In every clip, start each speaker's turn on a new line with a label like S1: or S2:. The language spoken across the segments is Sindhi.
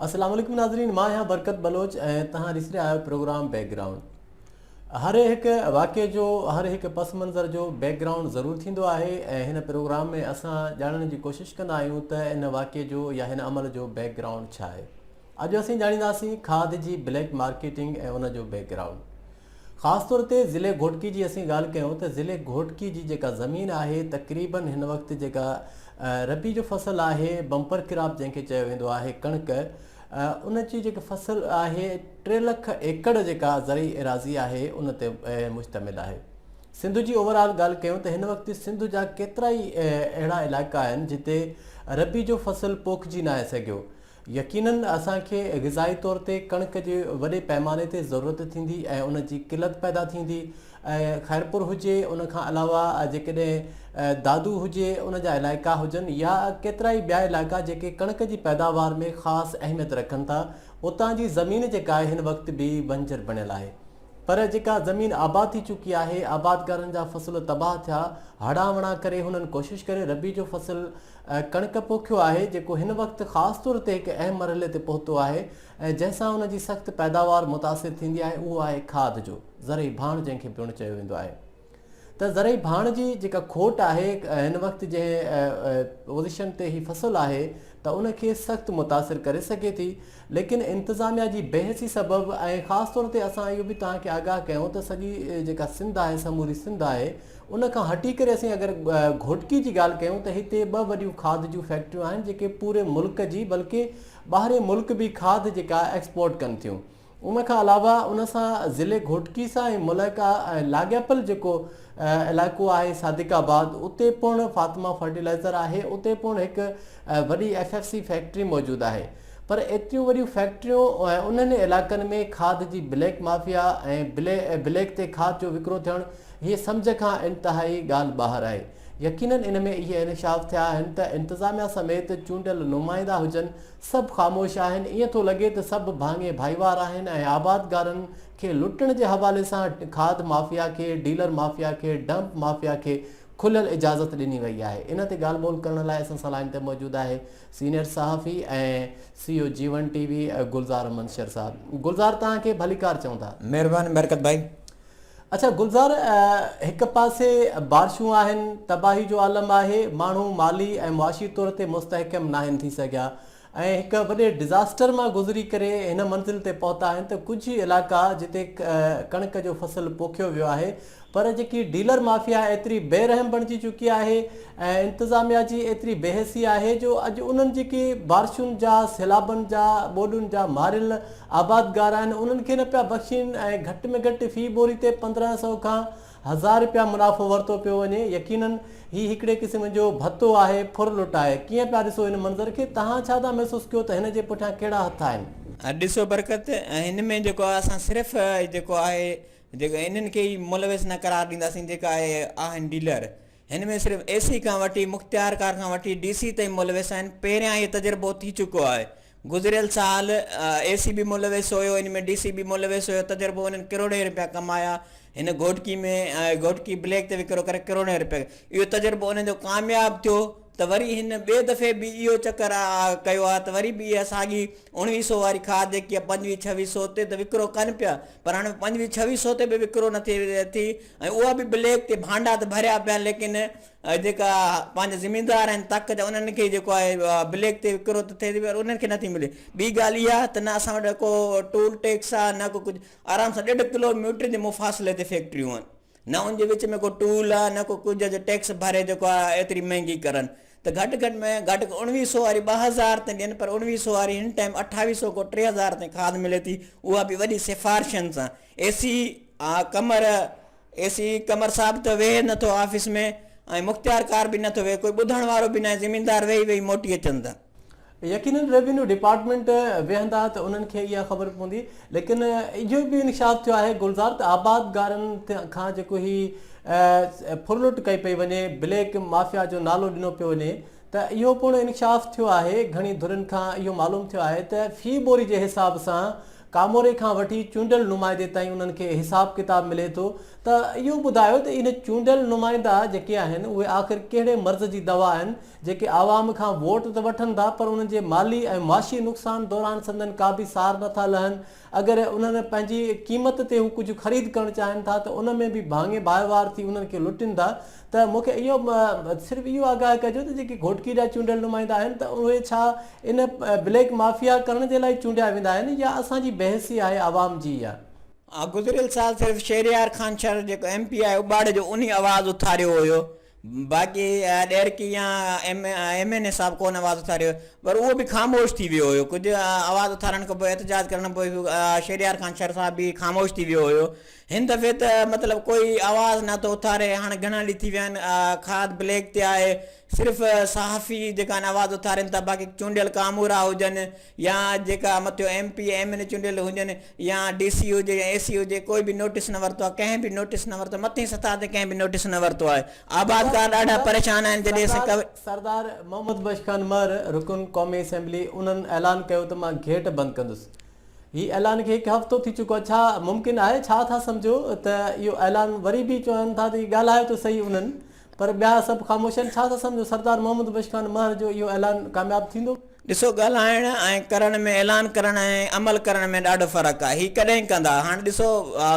S1: السلام عليڪم ناظرين مان آهيان برڪت بلوچ ۽ تهان ڏسي رهيا آهيو پروگرام بيڪ گرائونڊ هر هڪ واقعي جو هر هڪ پس منظر جو بيڪ گرائونڊ ضرور ٿيندو آهي ۽ هن پروگرام ۾ اسان ڄاڻڻ جي ڪوشش ڪندا آهيون ته ان واقعي جو يا هن عمل جو بيڪ گرائونڊ ڇا آهي اڄ اسين ڄاڻينداسين کاڌ جي بليڪ مارڪيٽنگ ۽ ان جو بيڪ گرائونڊ خاص طور تي ضلعي گهوٽڪي جي اسين ڳالهه ڪيون ته ضلعي گهوٽڪي جي جيڪا زمين آهي تقريبن هن وقت جيڪا ربيع جو فصل آهي بمپر ڪراپ جنهن کي چيو ويندو آهي ڪڻڪ ان جي جيڪي فصل آهي ٽي لک ايڪڙ جيڪا زرعي ايراضي آهي ان تي مشتمل آهي سنڌ جي اوور آل ڳالهه ڪيون ته هن وقت سنڌ جا ڪيترا ئي اهڙا علائقا آهن جتي ربيع جو فصل پوکجي ناهي سگهيو يقيناً اسان کي غذائي طور تي ڪڻڪ جي وڏي پئماني تي ضرورت ٿيندي ۽ ان جي قلت پيدا ٿيندي ۽ خيرپور هجي ان کان علاوه جيڪڏهن دادو هجي ان جا علائقا هجن يا ڪيترائي ٻيا علائقا جيڪي ڪڻڪ جي پيداوار ۾ خاص اهميت رکن ٿا اتان جي زمين جيڪا آهي هن وقت به بنجر بڻيل آهي پر جيڪا زمين آباد ٿي چڪي آهي آبادگارن جا فصل تباهه ٿيا هڙان وڙان ڪري هنن ڪوشش ڪري ربيع جو فصل ۽ ڪڻڪ پوکيو آهي جيڪو هن وقت خاص طور تي هڪ اهم مرحلي تي پهتو آهي ۽ جنهن سان ان جي سخت پيداوار متاثر ٿيندي آهي اهو آهي کاڌ جو زرعي ڀاڻ جنهن کي پڻ چيو ويندو آهي ته زرعي ڀاڻ جي جيڪا کوٽ آهي هن وقت جنهن پوزيشن تي هي فصل آهي ته ان کي سخت متاثر ڪري سگهي ٿي ليڪن انتظاميا جي بي حسي سبب ۽ خاص طور تي اسان اهو به توهان کي آگاهه ڪيون ته سڄي جيڪا سنڌ آهي سموري سنڌ آهي ان کان هٽي ڪري اسين اگر گهوٽڪي جي ڳالهه ڪيون ته هتي ٻه وڏيون کاڌ جون فيڪٽريون آهن جيڪي پوري ملڪ جي بلڪه ٻاهرين ملڪ به کاڌ جيڪا ايڪسپورٽ ڪن ٿيون ان کان علاوه ان سان ضلعي گهوٽڪي سان ۽ ملائڪا ۽ لاڳاپل جيڪو علائقو آهي صادق آباد اتي پڻ فاطمه فرٽيلائزر آهي اتي پڻ هڪ ۽ وڏي ايف ايف سي فيڪٽري موجود آهي پر ايتريون وڏيون فيڪٽريون ۽ انهن علائقن ۾ کاڌ جي بليڪ مافيا ۽ بليڪ تي کاڌ جو وڪرو ٿيڻ هيء سمجهه کان انتهائي ڳالهه ٻاهر آهي يقينن ان ۾ اهي انڪشاف ٿيا آهن ته انتظاميا سميت چونڊيل نمائندا هجن سڀ خاموش آهن ايئن ٿو لڳي ته سڀ ڀاڱي ڀائيوار آهن ۽ آبادگارن کي لٽڻ جي حوالي سان کاڌ مافيا کي ڊيلر مافيا کي ڊمپ مافيا کي کليل اجازت ڏني وئي آهي ان تي ڳالهه ٻولهه ڪرڻ لاء اسان سان لائين تي موجود آهي سينيئر صحافي ۽ سي او جيون ٽي وي گلزار احمد شر صاحب گلزار توهان کي ڀليڪار چئون ٿا مهرباني برڪت ڀائي
S2: اڇا
S1: گلزار هڪ پاسي بارشون آهن تباهي جو عالم آهي ماڻهو مالي ۽ معاشي طور تي مستحڪم ناهن ٿي سگهيا ۽ هڪ وڏي ڊزاسٽر مان گذري ڪري هن منزل تي پهتا آهن ته ڪجهه ئي علائقا جتي ڪڻڪ جو فصل پوکيو ويو آهي پر جيڪي ڊيلر مافيا ايتري بي رحم بڻجي چڪي آهي ۽ انتظاميا جي ايتري بي حسي آهي جو اڄ انهن جيڪي بارشن جا سيلابن جا ٻوڏن جا ماريل آبادگار آهن انهن کي نه پيا بخشين ۽ گهٽ ۾ گهٽ في بوري تي 1500 کان هزار رپيا منافعو ورتو پيو وڃي يقينن هي هڪڙي قسم جو ڀتو آهي ڦر لٽائي ڪيئن پيا ڏسو هن منظر کي تهان ڇا ٿا محسوس ڪيو ته هن جي پٺيان ڪهڙا هٿ آهن. ڏسو برڪت
S2: هن ۾ جيڪو آهي اسان صرف جيڪو آهي جيڪو انهن کي ئي ملوث نه قرار ڏينداسين جيڪا اهي آهن ڊيلر هن ۾ صرف اي سي کان وٺي مختيارڪار کان وٺي ڊي سي تائين ملوث آهن پهريان اهي تجربو ٿي چڪو آهي گذريل سال اي سي به ملوث هيو ان ۾ ڊي سي به ملوث هيو تجربو انهن ڪروڙين رپيا ڪمايا هن گهوٽڪي ۾ گهوٽڪي بليڪ تي وڪرو ڪري ڪروڙين رپيا اهو تجربو انهن جو ڪامياب ٿيو ته وري هن ٻئي دفعي به اهو چڪر ڪيو آ ته وري به اها ساڳي اڻويهه سئو واري کاڌ جيڪي آ پنجويهه ڇويهه سئو تي ته وڪرو ڪن پيا پر هاڻي پنجويهه ڇويهه سئو تي به وڪرو نه ٿي ٿي ۽ اها به بليڪ تي ڀانڊا ته ڀريا پيا ليڪن جيڪا پنهنجا زميندار آهن تڪ جا انهن کي جيڪو آهي بليڪ تي وڪرو ته ٿي پر انهن کي نه ٿي ملي ٻي ڳالهه اها ته نه اسان وٽ ڪو ٽول ٽيڪس آ نه ڪو ڪجهه آرام سان ڏيڍ ڪلو ميٽر جي مفاصلي تي فيڪٽريون آهن نه ان جي وچ ۾ ڪو ٽول آ نه ڪو ڪجهه جو ٽيڪس ڀري جيڪو آ ايتري مهنگي ڪرن ته گهٽ گهٽ ۾ گهٽ اوڻويهه سئو واري ٻه هزار تائين ڏين پر اوڻويهه سئو واري هن ٽائيم اٺاويهه سئو کان ٽي هزار تائين کاڌ ملي ٿي اها به وڏي سفارشن سان اي سي آ قمر اي سي قمر صاحب ته ويهي نٿو آفيس ۾ ۽ مختيار ڪار به نٿو ويهي ڪوئي ٻڌڻ وارو به ناهي زميندار ويهي ويهي موٽي اچن ٿا. يقينن
S1: ريونيو ڊپارٽمينٽ ويهندا ته انهن کي اها خبر پوندي ليڪن اهو به انڪشاف ٿيو آهي گلزار ته آبادگارن کان جيڪو هي ڦرلٽ ڪئي پئي وڃي بليڪ مافيا جو نالو ڏنو پيو وڃي ته اهو پڻ انڪشاف ٿيو آهي گهڻي ڌرين کان اهو معلوم ٿيو آهي ته في ٻوري جي حساب سان ڪاموري کان وٺي چونڊيل نمائندي تائين انهن کي حساب ڪتاب ملي ٿو ته اهو ٻڌايو ته اهي چونڊيل نمائندا جيڪي آهن اهي آخر ڪهڙي مرض جي دوا آهن جيڪي عوام کان ووٽ ته وٺن ٿا پر انهن جي مالي ۽ معاشي نقصان دوران سندن ڪابه سار نٿا لهن. اگر انهن پنهنجي قيمت تي هو ڪجهه خريد ڪرڻ چاهين ٿا ته ان ۾ به ڀاڱي ڀائيوار ٿي انهن کي لٽين ٿا ته مون کي اهو صرف اهو آگاهه ڪجو ته جيڪي گهوٽڪي جا چونڊيل نمائندا آهن ته اهي ڇا ان بليڪ مافيا ڪرڻ جي لاء چونڊيا ويندا آهن يا اسان جي بي حسي آهي عوام جي يا ها گذريل سال صرف
S2: شهريار خان شر جيڪو ايم پي آهي اٻاڙي جو انهي آواز اٿاريو هيو. باقي ڏهرڪي يا ايم اين اي صاحب ڪونه آواز اٿاريو پر اهو به خاموش ٿي ويو هيو ڪجهه آواز اٿارڻ کان پوء احتجاج ڪرڻ پوء شهريار خان شر صاحب به خاموش ٿي ويو هيو هن دفعي ته مطلب ڪوئي آواز نه ٿو اٿاري هاڻ گهڻا ڏينهن ٿي ويا آهن کاڌ بليڪ تي آهي صرف صحافي جيڪا آهن آواز اٿارين ٿا باقي چونڊيل ڪامورا هجن يا جيڪا مٿيون M P M N A چونڊيل هجن يا ڊي سي هجي يا اي سي هجي ڪوئي به نوٽيس نه ورتو آهي ڪنهن به نوٽيس نه ورتو مٿين سطح تي ڪنهن به نوٽيس نه ورتو آهي آبادگار ڏاڍا پريشان آهن جڏهن اسين سردار
S1: محمد بخش خان مهر رڪن قومي اسيمبلي انهن اعلان ڪيو ته مان گيٽ بند ڪندس هي اعلان کي هڪ هفتو ٿي چڪو آهي ڇا ممڪن آهي ڇا ٿا سمجهو ته اهو اعلان وري به چون ٿا ته ڳالهايو ته سهي انهن پر ٻيا سڀ خاموش آهن، ڇا ٿا سمجهو سردار محمد بخش خان مهر جو اهو اعلان ڪامياب ٿيندو؟ ڏسو ڳالهائڻ ۽
S2: ڪرڻ ۾ اعلان ڪرڻ ۽ عمل ڪرڻ ۾ ڏاڍو فرق آهي، هي ڪڏهن ڪندا؟ هاڻ ڏسو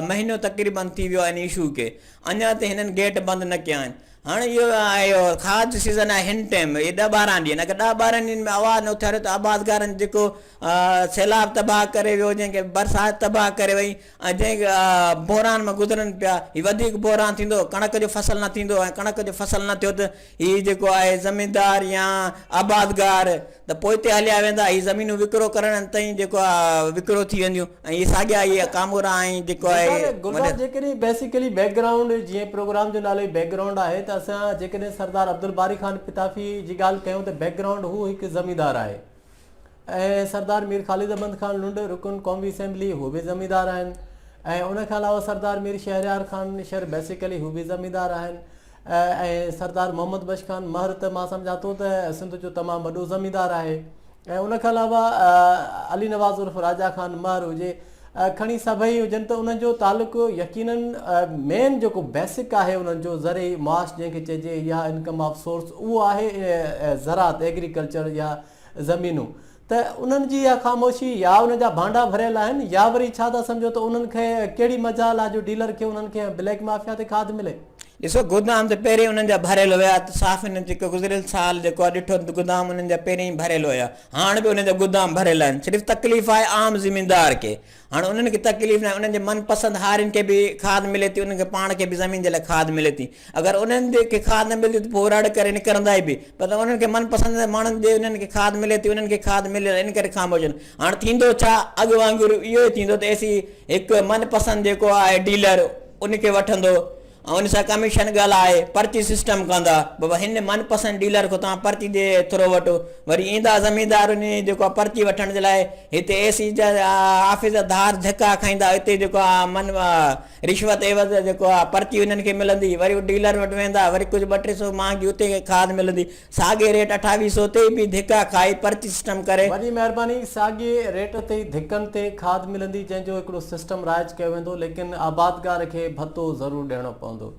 S2: مهينو تقريبن ٿي ويو آهي ان اشو کي، اڃا تائين هنن گيٽ بند نه ڪيا آهن، هاڻ اهو اهو خاص جو سيزن آهي هن ٽيم اهي ڏهه ٻارهن ڏينهن اگر ڏهه ٻارهن ڏينهن ۾ آواز نه اٿاريو ته آبادگارن جيڪو سيلاب تباهه ڪري ويو جنهن کي برسات تباهه ڪري وئي، ۽ جنهن بحران مان گذرن پيا هي وڌيڪ بحران ٿيندو ڪڻڪ جو فصل نه ٿيندو ۽ ڪڻڪ جو فصل نه ٿيو ته هي جيڪو آهي زميندار يا آبادگار ته پوئتي هليا ويندا هي زمينون وڪرو ڪرڻ تائين جيڪو آهي وڪرو ٿي وينديون ۽ هي ساڳيا هي ڪامورا ۽ جيڪو آهي جيڪڏهن بيسيڪلي
S1: بيڪ گرائونڊ جيئن پروگرام جو نالو ئي بيڪ گرائونڊ آهي ته اسان جيڪڏهن سردار عبدالباري خان پتافي جي ڳالهه ڪيون ته بيڪ گرائونڊ هو هڪ زميندار آهي ۽ سردار مير خالد احمد خان لنڊ رڪن قومي اسيمبلي هو به زميندار آهن ۽ ان کان علاوه سردار مير شهريار خان نشر بيسيڪلي هو به زميندار آهن ۽ سردار محمد بخش خان مهر ته مان سمجهان ٿو ته سنڌ جو تمام وڏو زميندار آهي ۽ ان کان علاوه علي نواز عرف راجا خان مهر هجي کڻي سڀئي هجن ته انهن جو تعلق يقينا مين جيڪو بيسڪ آهي انهن جو زرعي معاش جنهن کي چئجي يا انڪم آف سورس اهو آهي زراعت ايگريڪلچر يا زمينون ته انهن جي اها خاموشي يا ان جا ڀانڊا ڀريل آهن يا وري ڇا ٿا سمجهو ته انهن کي ڪهڙي مجال آ جو ڊيلر کي انهن کي بليڪ مافيا تي کاڌ ملي. ڏسو گودام
S2: ته پهرين انهن جا ڀريل هيا ته صاف انهن جيڪو گذريل سال جيڪو آ ڏٺو ته گودام انهن جا پهرين ئي ڀريل هيا هاڻ به انهن جا گودام ڀريل آهن صرف تڪليف آهي عام زميندار کي هاڻ انهن کي تڪليف ناهي، انهن جي من پسند هارين کي به کاڌ ملي ٿي، انهن کي پاڻ کي به زمين جي لاء کاڌ ملي ٿي. اگر انهن کي کاڌ نه ملندي ته پوء رڙ ڪري نڪرندا ئي به. پر انهن کي من پسند ماڻهن جي انهن کي کاڌ ملي ٿي، انهن کي کاڌ ملي ٿي، ان ڪري خاموش آهن. هاڻ ٿيندو ڇا؟ اڳ وانگر اهو ئي ٿيندو ته ايسي هڪ من پسند جيڪو آهي ڊيلر ان کي وٺندو، ان سان ڪميشن ڳالهائي پرچي سسٽم ڪندا بابا هن من پسند ڊيلر کان توهان پرچي ڏئي ٿرو وٺو وري ايندا زميندار وڃي جيڪو آهي پرچي وٺڻ جي لاء هتي اي سي جا آفيس جا ڌار ڌڪا کائيندا اتي جيڪو آهي من رشوت عيوض جيڪو آهي پرچي انهن کي ملندي وري ڊيلر وٽ ويندا وري ڪجهه ٻه ٽي سو مهانگي اتي کاد ملندي ساڳئي ريٽ اٺاويهه سئو تي به ڌڪا کائي پرچي سسٽم ڪري. وڏي مهرباني ساڳئي
S1: ريٽ تي ڌڪن تي کاڌ ملندي جنهن جو هڪڙو سسٽم رائج ڪيو ويندو ليڪن آبادگار کي ڀتو ضرور ڏيڻو پوندو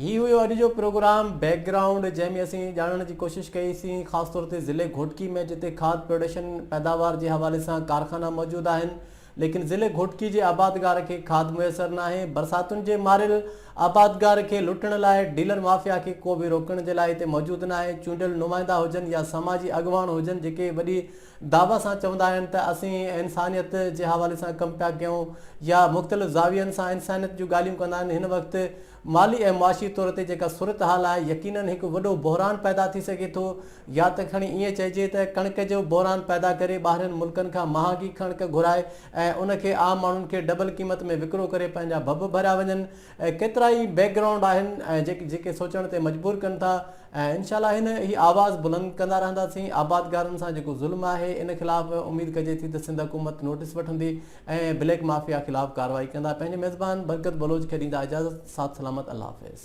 S1: هي هيو اڄ جو پروگرام بيڪ گرائونڊ جنهن ۾ اسين ڄاڻڻ جي ڪوشش ڪئي سين خاص طور تي ضلعي گهوٽڪي ۾ جتي کاڌ پروڊيشن پيداوار جي حوالي سان ڪارخانا موجود آهن ليڪن ضلعي گهوٽڪي جي آبادگار کي کاڌ ميسر ناهي، برساتن جي ماريل آبادگار کي لٽڻ لاء ڊيلر مافيا کي ڪو به روڪڻ جي لاء هتي موجود ناهي، چونڊيل نمائندا هجن يا سماجي اڳواڻ هجن جيڪي وڏي دعويٰ سان چوندا آهن ته اسين انسانيت جي حوالي سان ڪم پيا ڪيون يا مختلف زاوين سان انسانيت جون ڳالهيون ڪندا آهن هن وقت مالي ۽ معاشي طور تي جيڪا صورتحال آهي يقينن هڪ وڏو بحران پيدا ٿي سگهي ٿو يا ته کڻي ائين چئجي ته ڪڻڪ جو بحران پيدا ڪري ٻاهرين ملڪن کان مهانگي ڪڻڪ گهرائي ۽ ان کي عام ماڻهن کي ڊبل قيمت ۾ وڪرو ڪري پنهنجا ڀڀ ڀريا وڃن ڪيترائي بيڪ گرائونڊ آهن جيڪي سوچڻ تي مجبور ڪن ٿا ۽ انشاء الله هن هي آواز بلند ڪندا رهنداسين آبادگارن سان جيڪو ظلم آهي ان خلاف اميد ڪجي ٿي ته سنڌ حڪومت نوٽس وٺندي ۽ بليڪ مافيا خلاف ڪارروائي ڪندا پنهنجي ميزبان برڪت بلوچ کي ڏيندا اجازت ساٿ سلامت الله حافظ.